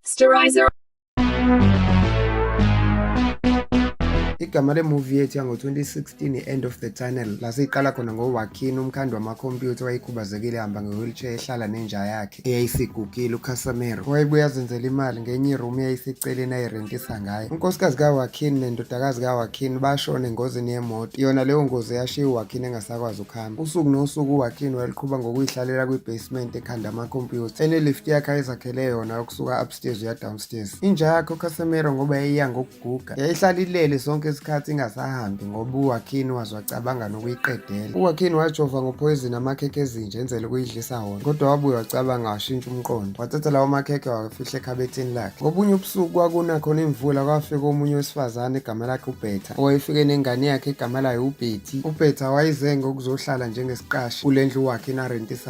Sterilizer. igama lemuvi yethu yango-2016 i-end of the tunnel lasiyiqala khona ngowakhini umkhandi wamakhompyutha wayekhubazekile ehamba nge-wheelchair ehlala nenja yakhe eyayisigugile ukhasamera wayebuye azenzela imali ngenye iroom eyayiseceleni ayirentisa ngayo unkosikazi kawakin nendodakazi kawakin bashona engozini yemoto yona leyo ngozi yashiya uwakin engasakwazi ukuhamba usuku nosuku uwakin wayeluqhuba ngokuyihlalela kwi-basement ekhanda amakhompyutha enelift yakhe ayezakhele yona ukusuka upstairs uya downstairs inja yakhe ukhasamera ngoba yayiya ngoku guga yayihlala ilele sonke isikhathi ingasahambi ngoba uwakhini waze wacabanga nokuyiqedela uwakhini wajova ngophoyizini amakhekhe ezinja enzele ukuyidlisa wona kodwa wabuye wacabanga washintsha umqondo wathatha lawo makhekhe wawafihla ekhabethini lakhe ngobunye ubusuku kwakuna khona imvula kwafika omunye wesifazane igama lakhe ubhetha owayefike nengane yakhe igama layo ubhethi ubhetha wayizenge ukuzohlala njengesiqashi kule ndlu wakhe inarentisa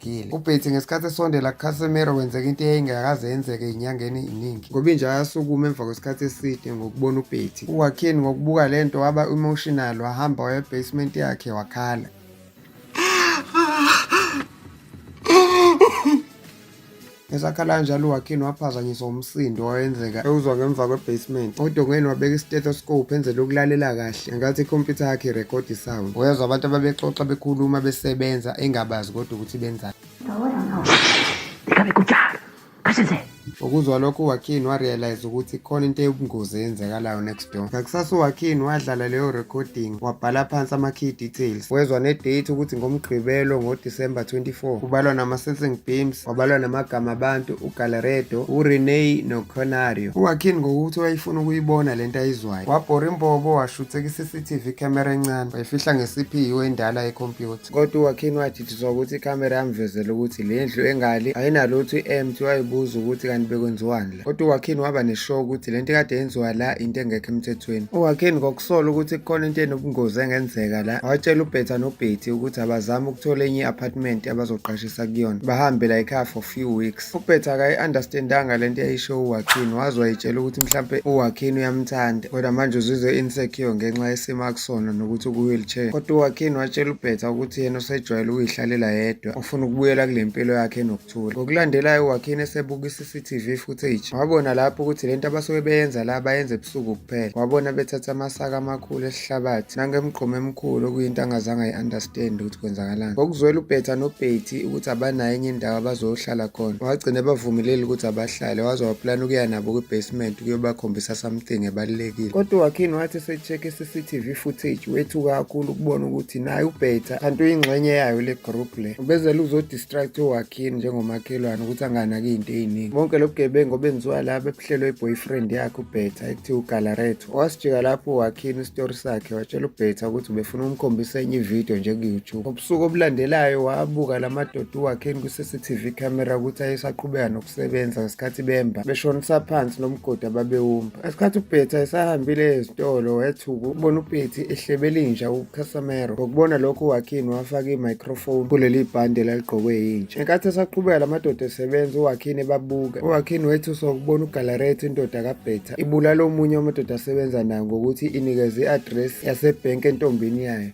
Gile. Ubhethi ngesikhathi esondela kuCasemiro kwenzeka into eyayingakaze yenzeke inyangeni iningi. Ngobinja ayasukuma emva kwesikhathi eside ngokubona ubhethi. UWakin ngokubuka le nto waba emotional wahamba waya ebasement yakhe wakhala. Esakhala kanjalo uWakin waphazanyiswa umsindo owayenzeka ewuzwa ngemva kwe-basement. Odongeni wabeka i-stethoscope enzela ukulalela kahle ngenkathi ikhompyutha yakhe irekhodi sound. Wezwa abantu ababexoxa bekhuluma besebenza engabazi kodwa ukuthi benzani. Ukuzwa lokho uWakin warealize ukuthi khona into eyobungozi eyenzekalayo next Ngakusasa uWakin wadlala leyo recording wabhala phansi ama-key details wezwa ne-date ukuthi ngomgqibelo ngoDisemba 24 kubalwa nama-sensing beams wabalwa namagama abantu ugalaredo ureney noconario uwakin ngokuthi wayefuna ukuyibona le nto ayizwayo wabhora imbobo washutheka i-cctv camera encane wayifihla nge-cpu endala ekhompyutha Kodwa uWakhini wajithiswa ukuthi ikhamera yamvezela ukuthi le ndlu engali ayinalutho i-empty wayibuza ukuthi kanti bekwenziwani la. Kodwa uWakhini waba neshow ukuthi le nto kade yenziwa la into engekho emthethweni. UWakhini ngokusola ukuthi kukhona into enobungozi engenzeka la watshela uBhetha noBhethi ukuthi abazame ukuthola enye i-apartment abazoqashisa kuyona bahambe la ekhaya for few weeks. Ufuphetha akayi-understandanga le nto yayisho uwakhini waze wayitshela ukuthi mhlampe uwakhini uyamthanda kodwa manje uzizwe insecure ngenxa yesimo akusona nokuthi uku-wheelchair kodwa uwakhini watshela ubhetha ukuthi yena usejwayele ukuyihlalela yedwa ufuna ukubuyela kule mpilo yakhe enokuthula ngokulandelayo uwakhini esebuka i-cctv footage wabona lapho ukuthi le nto abasuke beyenza la bayenza ebusuku kuphela wabona bethatha amasaka amakhulu ihlabathi nangemgqomo emkhulu okuyinto angazange ayi-understand ukuthi kwenzakalani ngokuzwela ubhetha nobhethi ukuthi abanayo enye indawo abazoyohlala khona wagcina ebavumeleli ukuthi abahlale waze waplana ukuya nabo kwi-basement ukuyobakhombisa something ebalulekile kodwa uwakhini wathi esecheck i-cctv footage wethuka kakhulu ukubona ukuthi naye ubhetha kanti uyingxenye yayo le group le ubezela uzodistract uwakhini njengomakhelwane ukuthi anganaki into eyiningi bonke lobugebengu obenziwa laba ebuhlelwe i-boyfriend yakhe ubhetha ekuthiwa ugalaret Wasijika lapho wakhini isitori sakhe watshela uBhetha ukuthi ubefuna umkhombisa enye ividiyo njengu-YouTube. Ubusuku obulandelayo wabuka la madoda uwakhini kwi-CCTV camera ukuthi ayesaqhubeka nokusebenza ngesikhathi bemba beshonisa phansi nomgodi ababewumba. Ngesikhathi uBhetha esahambile ezitolo wethuka ukubona uPetty ehlebela inja uCasamero. Ngokubona lokho uwakhini wafaka i-microphone kuleli bhande elaligqokwe yinja. Ngenkathi esaqhubeka la madoda esebenza uwakhini ebabuka. Uwakhini wethusa ukubona ugalaretha indoda kaBhetha. ibulala omunye wamadoda asebenza nayo ngokuthi inikeze i-address yasebhenki entombini yayo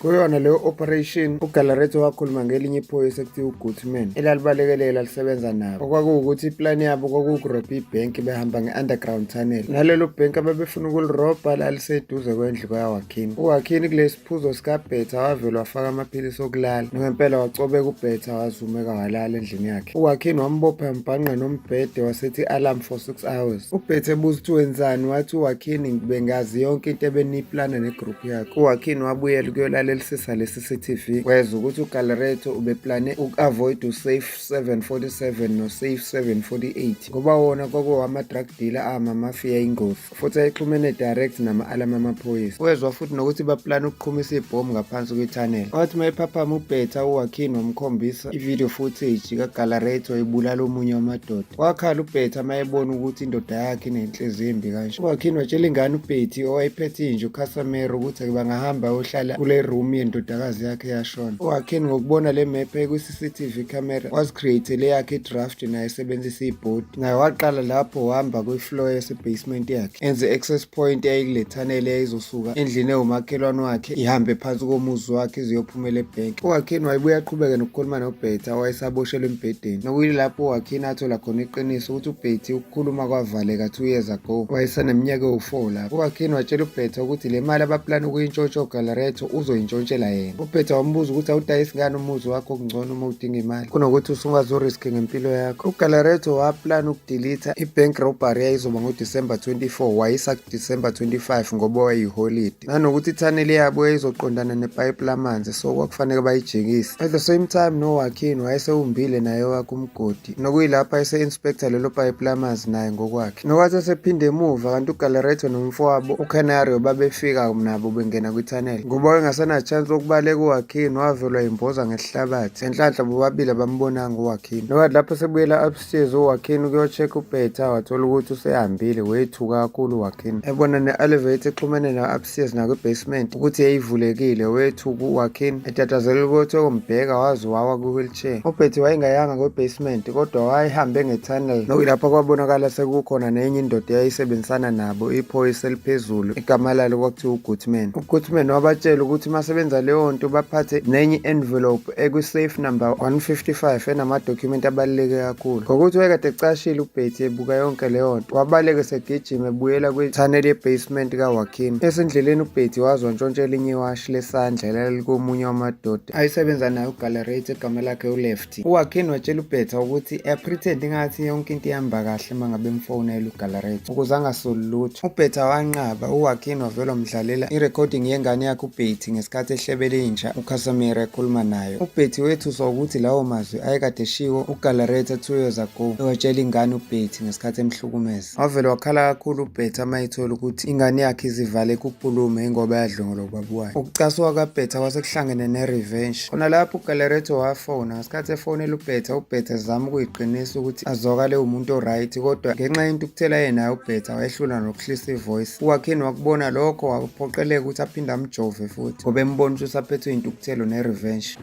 kuyona leyo operation ugalaretho wakhuluma ngelinye iphoyisa ekuthiwa ugoodman elalibalekelela lisebenza nabo okwakuwukuthi iplani yabo kwakuwukurobha ibhenki behamba nge-underground tunnel nalelo bhenki ababefuna ukulirobha laliseduze kwendlu kwayawa Kim. Uwakhini kulesi phuzo sikabhetha wavele wafaka amaphilisi okulala nangempela wacobeka ubhetha wazumeka walala endlini yakhe uwakhini wambopha mbhanqa nombhede wasethi alarm for six hours ubhethe ebuza ukuthi wenzani wathi uwakhini bengazi yonke into ebeniyiplana negroup yakhe uwakhini wabuyela ukuyolalelisisa lesi cctv weza ukuthi ugalereto ubeplane uku-avoid usafe 747 nosafe 748 ngoba wona kwakowama-drug dealer amamafiya ingozi futhi ayixhumene direct nama-alamu amaphoyisa wezwa futhi nokuthi baplana ukuqhumisa ibhomu ngaphansi kwethanela wathi uma ephaphama ubhetha uwakhini wamkhombisa ivideo footage kagalarethi wayibulala omunye wamadoda wakhala ubhetha uma ebona ukuthi indoda yakhe inenhliziyo embi kanje uwakhini watshela ingane ubhethi owayephethe inje ukhasamere ukuthi bangahamba ayohlala kule room yendodakazi yakhe yashona uwakhini ngokubona le mepha CCTV camera wazicreatele yakhe idraft naye esebenzisa ibhodi naye waqala lapho wahamba kwi-floor yasebasement yakhe enze access point eyayilethanele yayizosuka endlini ewumakhelwane wakhe ihambe phansi komuzi wakhe iziyophumela ebhenki uwakhini wayebuye aqhubeke nokukhuluma nobhetha owayesaboshelwe embhedeni nokuyilapho uwakhini athola khona iqiniso ukuthi ubhethi ukukhuluma kwavaleka two years ago wayesaneminyaka ewu-four lapho uwakhini watshela ubhetha ukuthi le mali abaplana ukuyintshotsha ogalaret uzoyintshontshela yena uphetha wambuza ukuthi awudayisi ngani umuzi wakho kungcono uma udinga imali kunokuthi usungazoriski ngempilo yakho ugalareto waplana ukudilitha ibank robbery yayizoba ngodisemba 24 wayisa kudisemba 25 ngoba wayiholidi nanokuthi ithaneli yabo yayizoqondana nepayipi lamanzi so kwakufanele bayijikise at the same time nowakhini wayesewumbile naye wakhe umgodi nokuyilapho ese-inspektha lelo payipi lamanzi naye ngokwakhe nokwathi esephinde emuva kanti ugalaretho nomfowabo ucanario babefika nabo bengena kwithanele ngoba wayengasenachance wokubaleka uwakhini wavelwa imboza ngesihlabathi enhlanhla bobabili abambonanga uwakhini nokwathi lapho sebuyela upstairs uwakhini ukuyocheck ubeta wathola ukuthi usehambile wethuka kakhulu uwakhini ebona ne-elevate exhumene na-upstairs nakwibasement ukuthi yayivulekile wethuka uwakhini etatazelela ukuthi okombheka waze wawa kwi She. UBetty wayengayanga kwe-basement kodwa wayehambe nge-tunnel nokuyilapho kwabonakala sekukhona nenye indoda eyayisebenzisana nabo iphoyisa eliphezulu igama lalo kwakuthiwa uGoodman. UGoodman wabatshela ukuthi uma sebenza leyo nto baphathe nenye envelope ekwi-safe number 155 enamadokhumenti abaluleke kakhulu. Ngokuthi wayekade ecashile uBetty ebuka yonke leyo nto wabaleke segijima ebuyela kwi-tunnel ye-basement kaWakim. Esendleleni uBetty wazwa ntshontsha elinye iwashi lesandla elalikomunye wamadoda. ayisebenza nayo uGallerate egama lakhe uLefty. UWakin watshela uBetha ukuthi eyaphretend ingathi yonke into ihamba kahle uma ngabe emfonela uGallerate ukuze angasoli lutho. UBetha wanqaba, uWakin wavele wamdlalela i-recording yengane yakhe uBetty ngesikhathi ehlebele inja uCasimir ekhuluma nayo. UBetty wethuswa ukuthi lawo mazwi ayekade eshiwo uGallerate two years ago ewatshela ingane uBetty ngesikhathi emhlukumeza. Wavele wakhala kakhulu uBhetha uma ethola ukuthi ingane yakhe izivale kukhulume ingoba yadlongolwa ubaba wayo. Ukucasuka kaBhetha kwase kuhlangene ne-revenge. Khona lapho uGaleretto wafona ngesikhathi efonela uBhetha, uBhetha zama ukuyiqinisa ukuthi azwakale umuntu o-right kodwa ngenxa yentukuthela yenayo uBhetha wayehlula nokuhlisa ivoice. UWakhini wakubona lokho waphoqeleka ukuthi aphinde amjove futhi ngoba embona ukuthi usaphethwe yintukuthelo ne-revenge.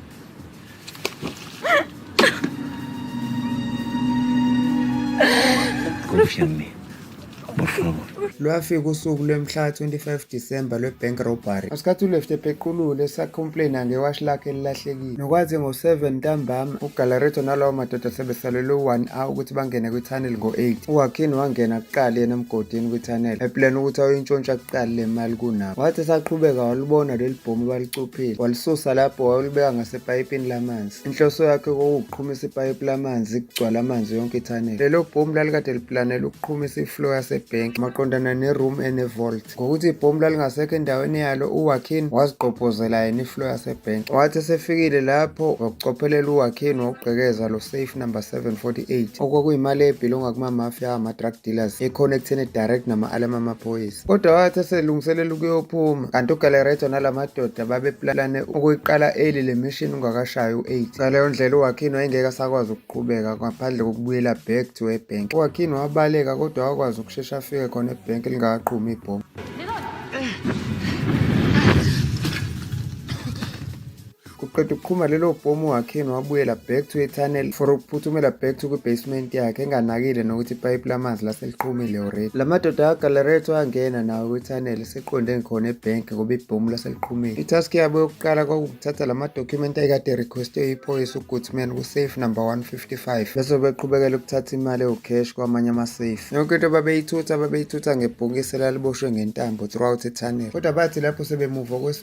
lwafika usuku lwemhla 25 December lwe-bank robbery ngesikhathi uleft epequlule esacomplaina ngewashi lakhe elilahlekile nokwathi ngo-7 ntambama ugalareto nalawo madoda sebesalelwe u-1 hour ukuthi bangene kwi-tunnel ngo-8 uwakhini wangena kuqala yena emgodini kwi-tunnel eplana ukuthi ayoyintshontsha kuqala le mali kunabo wathi esaqhubeka walubona leli bhomu balicupha Phila walisusa lapho wayolibeka ngasepayipini lamanzi. Inhloso yakhe kwakuwukuqhumisa ipayipi lamanzi kugcwala amanzi yonke ithanele. Lelo bhomu lalikade liplanela ukuqhumisa iflow yasebhenki maqondana neroom enevolt. Ngokuthi ibhomu lalingasekho endaweni yalo uWakin wazigqobhozela yena iflow yasebhenki. Wathi esefikile lapho wakucophelela uWakin wawugqekeza lo safe number 748 okwakuyimali ebhilonga kumamafia ama-drug dealers ekhona ekutheni direct nama-alarm amaphoyisa. Kodwa wathi eselungiselela ukuyophuma kanti uGalereto nala madoda babeplane ukuyiqala eli le mission ungakashayi u-8. Ngaleyo ndlela uWakin wayengeke asakwazi ukuqhubeka ngaphandle kokubuyela back to ebhenk. UWakin wabaleka kodwa wakwazi ukushesha afike khona ebhenk lingakaqhumi ibhomu. kuqeda ukuqhuma lelo bhomu wakhini wabuyela back to etunnel for ukuphuthumela back to kwi-basement yakhe enganakile nokuthi ipayipi lamanzi laseliqhumile already la madoda agalaretho angena nawo kwi-tunnel eseqonde ngikhona ebhenki ngoba ibhomu laseliqhumile itask yabo yokuqala kwakukuthatha la madokhumenti ayekade requestwe iphoyisa ugoodman kusafe number 155 bese beqhubekela ukuthatha imali ewucash kwamanye amasafe yonke into babeyithutha babeyithutha ngebhokisi laliboshwe ngentambo throughout etunnel kodwa bathi lapho sebemuva kwesi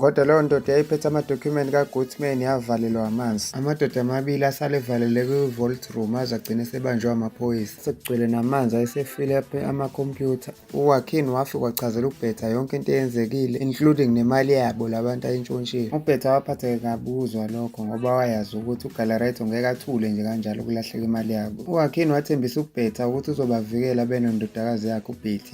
Kodwa leyo ndoda yayiphethe amadokhumenti kaGoodman yavalelwa amanzi. Amadoda amabili asale evalele kwi-vault room aze agcine esebanjwe amaphoyisa. Sekugcwele namanzi ayesefile aphe amakhompyutha. UWakin wafika wachazela uBhetha yonke into eyenzekile including nemali yabo labantu ayintshontshile. UBhetha waphatheke kabi ukuzwa lokho ngoba wayazi ukuthi uGalaretto ngeke athule nje kanjalo ukulahleka imali yabo. UWakin wathembisa uBhetha ukuthi uzobavikela benondodakazi yakhe uBetty.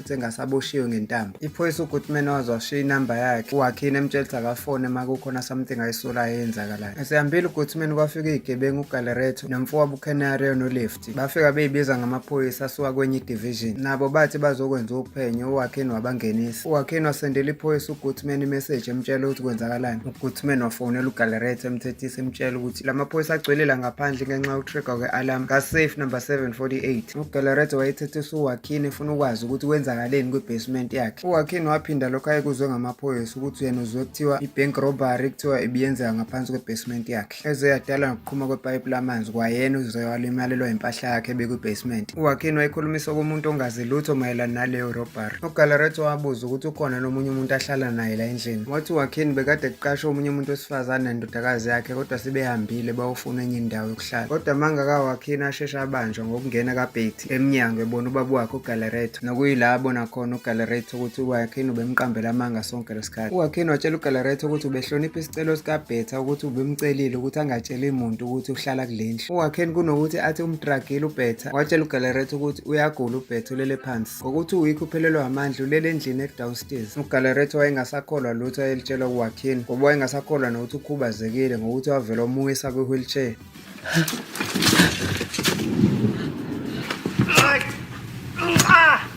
sengathi aboshiwe ngentambo iphoyisa ugoodman waze washiya inamba yakhe uwakhini emtshela ukuthi akafone uma kukhona something ayisolayo eyenzakalayo esehambile ugoodman kwafika iyigebengu ugalereto nomfowabo ukenario nolefti bafika beyibiza ngamaphoyisa asuka kwenye idivision nabo bathi bazokwenza uphenyo uwakhini wabangenisa uwakhini wasendela iphoyisa ugoodman imeseji emtshela ukuthi kwenzakalani ugoodman wafonela ugalereto emthethisa emtshela ukuthi la maphoyisa agcwelela ngaphandle ngenxa yokutrigger kwe-alarm kasafe number 748 UGalaretto wayethethe uSuwakhini efuna ukwazi ukuthi kwenzakaleni kwi-basement yakhe. UWakhini waphinda lokho ayekuzwe ngamaphoyisa ukuthi yena uzwe kuthiwa i-bank robbery kuthiwa ibiyenzeka ngaphansi kwe-basement yakhe. Eze yadalwa ngokuqhuma kwepayipi lamanzi kwayena uZoya walimalelwa impahla yakhe ebekwi-basement. UWakhini wayikhulumisa komuntu ongazi lutho mayelana naleyo robbery. UGalaretto wabuza ukuthi ukhona nomunye umuntu ahlala naye la endlini. Wathi uWakhini bekade kuqashwe omunye umuntu wesifazane nendodakazi yakhe kodwa sebehambile bayofuna enye indawo hlala kodwa mangaka wakhini asheshe abanjwa ngokungena kabhethi emnyango ebona ubaba wakhe ugalereto nokuyila abona khona ugalereto ukuthi uwakhini ubemqambela amanga sonke lesikhathi uwakhini watshela ugalereto ukuthi ubehlonipha isicelo sikabhetha ukuthi ubemcelile ukuthi angatsheli muntu ukuthi uhlala kulendlu uwakhini kunokuthi athi umdragile ubhetha watshela ugalereto ukuthi uyagula ubhetha ulele phansi Ngokuthi uWick uphelelwa amandla ulele endlini edownstairs. UGalaretto wayengasakholwa lutho ayelitshelwa uWakin ngoba wayengasakholwa nokuthi ukhubazekile ngokuthi wavele omuwisa kwi-wheelchair.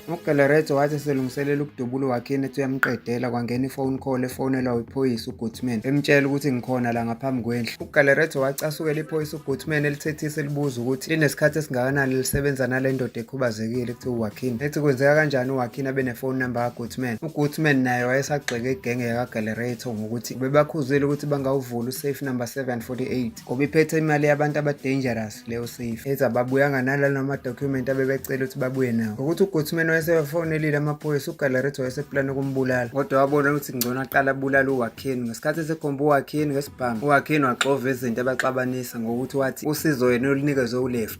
UGalaretto wathi eselungiselela ukudubula uWakin ethi uyamqedela kwangena ifone call efonelwa wiphoyisa uGoodman emtshela ukuthi ngikhona la ngaphambi kwendlu. UGalaretto wacasukela iphoyisa uGoodman elithethisa elibuza ukuthi linesikhathi esingakanani lisebenza nale ndoda khubazekile kuthiwa uwakhini ethi kwenzeka kanjani uwakhini abe nefoni number kagoodman ugoodman naye wayesagxeke igenge yakagalerator ngokuthi bebakhuzile ukuthi bangawuvula usafe number 748 ngoba iphethe imali yabantu abadangerous leyo safe ethi ababuyanga nalalo amadokhumenti abebecela ukuthi babuye nawo ngokuthi ugoodman wayesebafonelile amaphoyisa ugalerator wayeseplani ukumbulala kodwa wabona ukuthi ngcono aqala abulala uwakhini ngesikhathi esekhomba uwakhini ngesibhamu uwakhini waxova izinto abaxabanisa ngokuthi wathi usizo yena olunikezwe uleft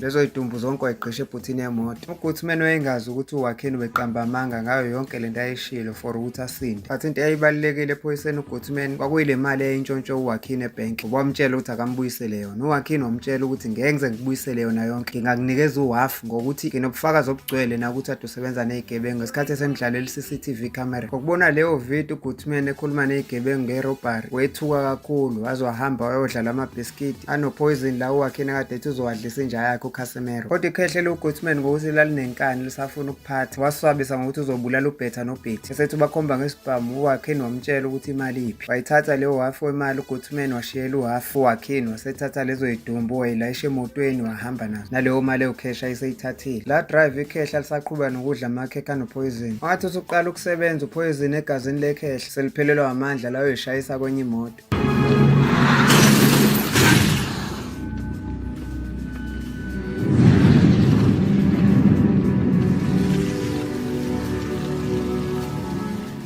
Lezo yitumbu zonke wayigqisha ebhuthini yemoto. Ukuthi umene wayengazi ukuthi uwakheni ubeqamba amanga ngayo yonke le nto ayishilo for ukuthi asinde. But into eyayibalulekile ephoyiseni uGoodman kwakuyile mali eyintshontsho uwakhini ebhenki. Ngoba wamtshela ukuthi akambuyisele yona. Uwakhini wamtshela ukuthi ngeke ngize ngikubuyisele yona yonke. Ngingakunikeza uhafu ngokuthi nginobufakazi obugcwele nakuthi ade usebenza nezigebengu ngesikhathi esemdlalela i-CCTV camera. Ngokubona leyo video uGoodman ekhuluma nezigebengu ngerobbery wethuka kakhulu waze wahamba wayodlala amabhisikidi Gidi anopoison la uwakhe nakade ethi uzowadlisa inja yakhe uCasemiro. Kodwa ikhehle loGoodman ngokuthi lalinenkani lisafuna ukuphatha. Waswabisa ngokuthi uzobulala uBetha noBethi. Esethi ubakhomba ngesibhamu uwakhe wamtshela ukuthi imali iphi. Wayithatha leyo half wemali uGoodman washiyela uhalf uwakhe wasethatha lezo yidumbu wayilayisha emotweni wahamba nazo. Naleyo mali ewukhesha iseyithathile. La drive ikhehla lisaqhubeka nokudla amakhekha anopoison. Wathi usuqala ukusebenza upoison egazini lekhehla seliphelelwa amandla layo ishayisa kwenye imoto.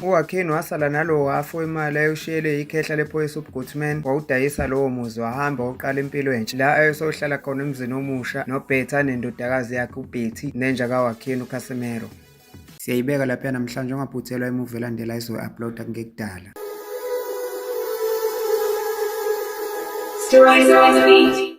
UWakheni wasala nalowo wafu imali ayewushiyelwe ikhehla lephoyisa uBgoodman wawudayisa lowo muzi wahamba wawuqala impilo entsha la ayesohlala khona emzini omusha noBetty anendodakazi yakhe uBetty nenja kaWakheni uCasimero. Siyayibeka lapha namhlanje ungaphuthelwa imuvi elandela izoyi-uploada kungekudala. Stories